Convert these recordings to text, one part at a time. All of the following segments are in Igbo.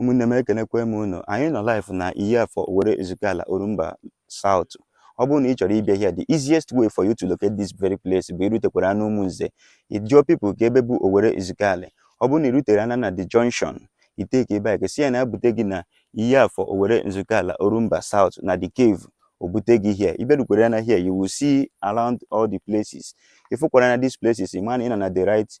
ụmụnne m ekenekwa m unu anyị nọ live na iyi afọ owerre ezukala orumba south ọ bụrụ na ị chọrọ ịbịa here the easiest way for you to locate this very place bụ irutekwara na umunze ịjụọ people ka ebe bụ owerre ezukala ọ bụrụ na irutere na the junction i take bike sị ya na abute gị na iyi afọ owerre ezukala orumba south na the cave obute gị here iberukwere ya na here you will see around all the places ifukwara na these places ị ma na ị nọ na the right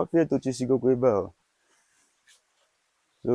ọfịa etochisigokwa ebe a so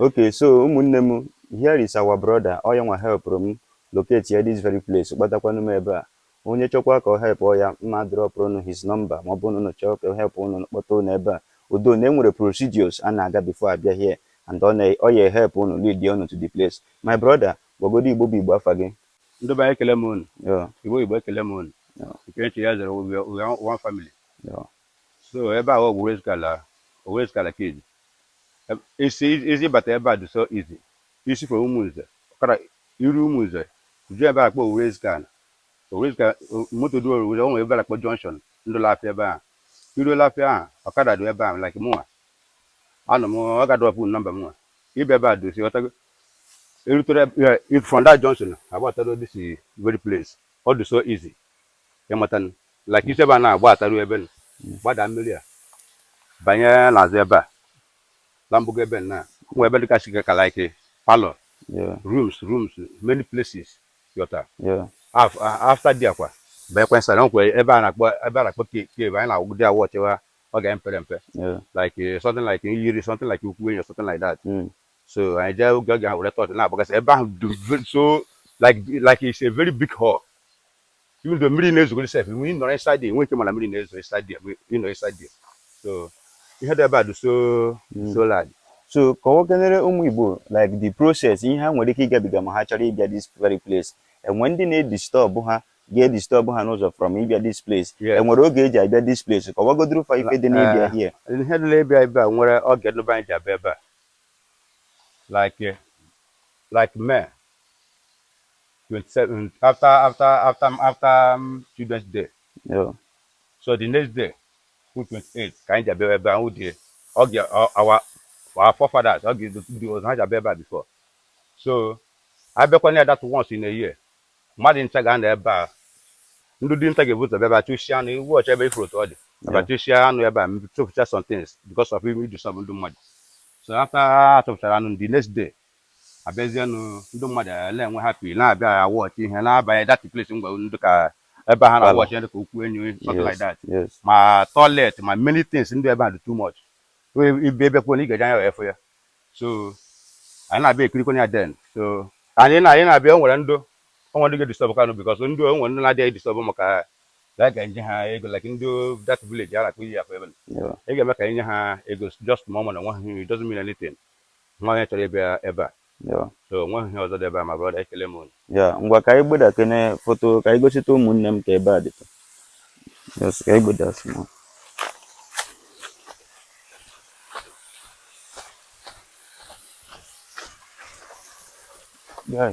Okay, so ụmụnne m, here is our brother, ọ yanwa helpụrụ m locate ya this very place, kpọtakwanụ m ebe a. Onye chọkwa ka ọ helpụọ ya, m ma drọpụrụ ụnụ his number, ma ọ bụrụ na ụnụ chọọ ka ọ help ụnụ, kpọta ụnụ ebe a. Although na e nwere procedures a na-aga before abịa here, and ọ ya help ụnụ lead ya ụnụ to the place. My brother, gwagodu Igbo bụ Igbo afa gị. Ndị be anyị ekele m ụnụ. Yeah. Igbo bụ Igbo ekele m ụnụ. Yeah. Nke onye chiri ya zere we are one family. Yeah. So ebe a ọ bụ Owerre Ezukala Owerre Ezukala ka iji isi isi ịbata ebe a dị so easy isi from ụmụnze ọ kara iru ụmụnze jụọ ebe a kpọ Owerre Ezukala Owerre Ezukala moto dị Owerre Ezukala onwe ebe a kpọ junction dụ l'afịa ebe ahụ iruo l'afịa ahụ ọkada dị ebe ahụ like mụnwa anọ m ọ ga drọpụ nọmba mụnwa ịbịa ebe a dị osi ọtago irutere from that junction agbataruo this very place ọ dị so easy ịmata nụ like isi ebe a na agbataruo ebe nụ gbadaa mmiri a banye n'azụ ebe a la mgbago ebe nna nwe ebe dịgasị ka like parlour rooms rooms many places yọta after di akwa banyekwa nsara nkwe ebe a na-akpọ ebe a na-akpọ cave anyị na-awụgide awụ ọchịwa ọ ga mpere mpe like something like yiri something like ukwu enyi something like that hmm. so anyị jee oge oge ha were tọọchị na-agbagasị ebe ahụ so like like it's a very big hall even though mmiri na-ezogoro sef nwe ịnọrọ inside there nwe ike ịma na mmiri na-ezo inside there nwe ịnọ inside there so ihe dị ebe a dị so so large so kọwakenere ụmụ igbo like the process ihe ha nwere ike ịgabiga ma ha chọrọ ịbịa this very place enwere ndị na-edistọbụ ha ga-edistọbụ ha n'ụzọ from ịbịa this place Yes. enwere oge eji abịa this place kọwagodoro fa ife dị n'ịbịa here ihe dị n'ebe ebe a nwere oge ndị be anyị ji abịa ebe a like eh, like May 27 after after after after um, children's day Yeah. so the next day wụ 28 ka anyị ji abịa ebe ahụ dị ọ ga ọ- our our forefathers ọ ga ndị ọzọ ha ji abịa ebe a before so abịakwana ya that once in a year mmadụ ncha ga-anọ ebe a ndị dinta ga-ebu ụzọ bịa bịa chụsịa anụ iwu ọcha ebe ị fụrụ otu ọ dị bịa Yeah. chụsịa anụ ebe a chụpụcha some things because of idu some ndị mmadụ so after a chụpụchara anụ the next day abịazienụ ndị mmadụ na-enwe happy na-abịa awọchị ihe na-aba that place m gwara unu dịka ebe ha na-awọchị ihe dịka ụkwụ enyi something like that ma toilet ma many things dị ebe a dị too much ibe ebekwuo na ị ga-eji anya wee fụ ya so anyị na-abịa ekirikwana ya then so anyị na anyị na-abịa o nwere ndị o nwere ndị ga-edisturb kanụ because ndị o nwere ndị na-adịghị edisturb maka that ga enye ha ego like ndị that village a na-akpụ iyi akpa ebe ị ga-eme ka enye ha ego just ma ọ mana nwa ha it doesn't mean anything Nwa onye chọrọ ịbịa ebe a? Yeah. So o nweghị ihe ọzọ dị ebe a ma brother ekele m unu. Ya, ngwa ka anyị gbeda kene foto ka anyị gosite ụmụnne m ka ebe a dịtụ. Yes, ka anyị gbeda small. Yeah.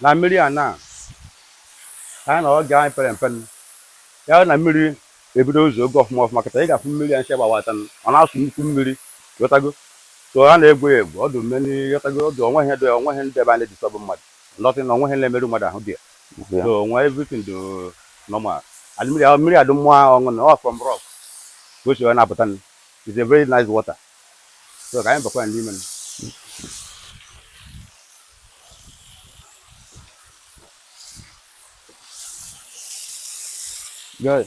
na mmiri a na anyị na oge anyị pere mpe ya na mmiri ebido izo oge ọfụma ọfụma kịta ị ga-afụ mmiri a ncha gbawata ọ na-asụ nnukwu mmiri ghọtago so a na-egwu ya egwu ọdụ mmiri ghọtago ọdụ onweghị dị onweghị ndị ebe a na-edisturb mmadụ Nothing, o nweghị ihe na-emerụ mmadụ ahụ ebe a. Yeah. So onwe everything dụ normal. And mmiri ahụ mmiri a dụ mma ọṅụṅụ ọ from rock ka o si wee na-apụta nụ. It's a very nice water. So ka anyị bakwa ya n'ime nụ. Good.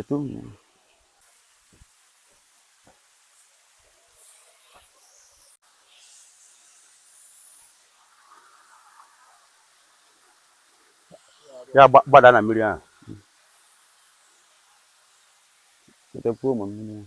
Ito. Ya gbada na mmiri ahụ. Chetakwa ụmụ mmiri ahụ.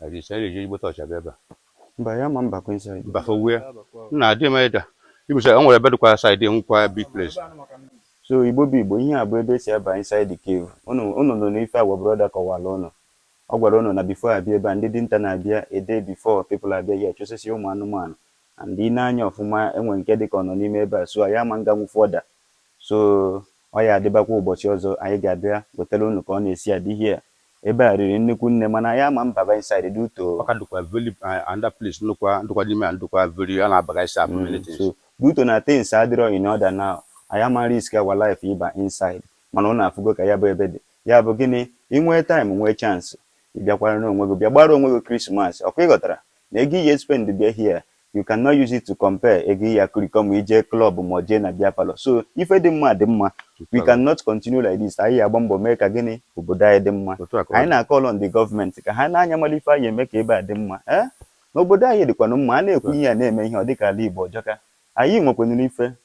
Na dị ise eji ezigbo tọọchị abịa ebe a. Mba anyị ama mbakwa inside ya. Mba fọgbu ya. Nna adị m ịda. Ibisa o nwere ebe dịkwa side nwekwa big place. So Igbo bụ Igbo, ihe a bụ ebe e si aba inside the cave. Unu unu nụrụ ife our brother kọwara unu. Ọ gwara unu na before abịa ebe a, ndị dinta na-abịa a day before people abịa here chụsịsịa ụmụ anụmanụ. And i nee anya ọfụma, e nwere nke dịka ọ nọ n'ime ebe a. So anyị ama nganwu further. So ọ ya adịbakwa ụbọchị ọzọ anyị ga-abịa wetara unu ka ọ na-esi adị here. Ebe a riri nnukwu nne mana anyị ama mbaba inside due to o. Ọ ka dịkwa very uh, another place ndụkwa ndụkwa n'ime a ndụkwa very a na-abagasị afụ many Mm, things. so due to na things adịrọ in order now. Anyị ama risk our life ịba inside mana unu afụgo ka ya bụ ebe dị. Ya bụ gịnị? Ị nwee time nwee chance, ị bịakwara n'onwe gị bịa gbaara onwe gị Christmas. Ọkwa ị ghọtara? Na ego ị ya-espend bịa here, You cannot use it to compare ego ị ya-akụrikọ ma i jee club ma jee na beer parlour. So ife dị mma dị mma. We cannot continue like this. Anyị agba mbọ mee ka gịnị obodo anyị dị mma. Anyị na-call on the government ka ha nee anya mala ife anyị ya-eme ka ebe a dị mma. Eh? Na obodo anyị dịkwanụ mma. A na-ekwu ihe a na-eme ihe ọ dịka ala Igbo ọ jọka. Anyị nwekwanụrụ ife.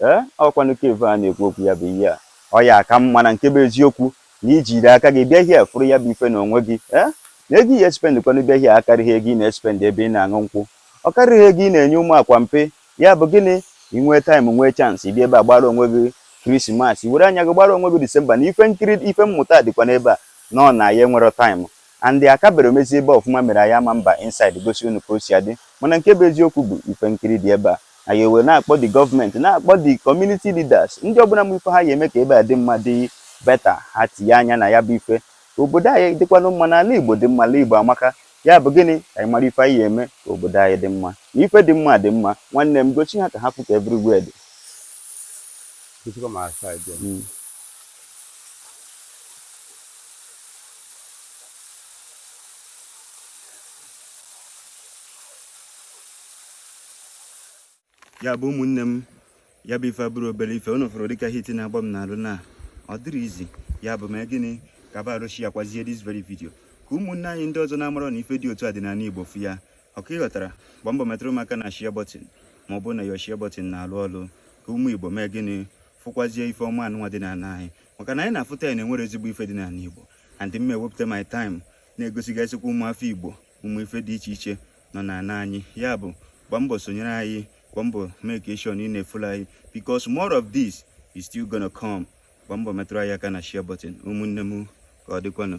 Ee, ọ kwanụ cave a na-ekwu okwu ya bụ ihe a. Ọ ya aka mma na nke bụ eziokwu na i jiri aka gị bịa here fụrụ ya bụ ife n'onwe gị, ee? Na ego ị ya-espend kwanụ bịa here akarịghị ego ị na-espend ebe ị na-aṅụ nkwụ. Ọ karịghị ego ị na-enye ụmụ akwa mpe. Ya bụ gịnị? I nwee time, nwee chance, ị bịa ebe a gbaara onwe gị Christmas, i were anya gị gbaara onwe gị December. Na ife nkiri, ife mmụta dịkwa n'ebe a, nọọ na anyị enwerọ time. And akaberọ emezi ebe a ọfụma mere anyị ama mba inside gosi unu ka o si adị. Mana nke bụ eziokwu bụ ife nkiri dị ebe a. Anyị ewee na-akpọ the government, na-akpọ the community leaders, ndị ọbụla ma ife ha ya eme ka ebe a dị mma dị better, ha tinye anya na ya bụ ife. Ka obodo anyị dịkwanụ mma na ala Igbo dị mma, ala Igbo amaka. Ya bụ gịnị? Ka anyị mara ife anyị ya eme ka obodo anyị dị mma. Na ife dị mma dị mma. Nwanne m, gosi ha ka ha fụ ka everywhere dị. Gosikwa m outside ya. Mm. ya bụ ụmụnne m ya bụ ife abụrọ obere ife unu fụrụ dịka heat na-agba m n'arụ na ọ dịrọ easy ya bụ mee gịnị ka ba arụ share kwazie this very video ka ụmụnne anyị ndị ọzọ na-amarọ na ife dị otu a dị n'ala Igbo fụ ya ọkwa ị ghọtara gbaa mbọ metụrụ m aka na share button ma ọ bụrụ na your share button na-alụ ọlụ ka ụmụ Igbo mee gịnị fụkwazie ife ọma anụnwa dị n'ala anyị maka na anyị na-afụta ya na e nwere ezigbo ife dị n'ala Igbo and m ewepụta my time na-egosigasịkwa ụmụafọ Igbo ụmụ ife dị iche iche nọ n'ala anyị ya bụ gbaa mbọ sonyere anyị gbaa mbọ make sure na ị na-efollow anyị because more of this is still gonna come gbaa mbọ metụrụ anyị aka na share button ụmụnne m ka ọ dịkwanụ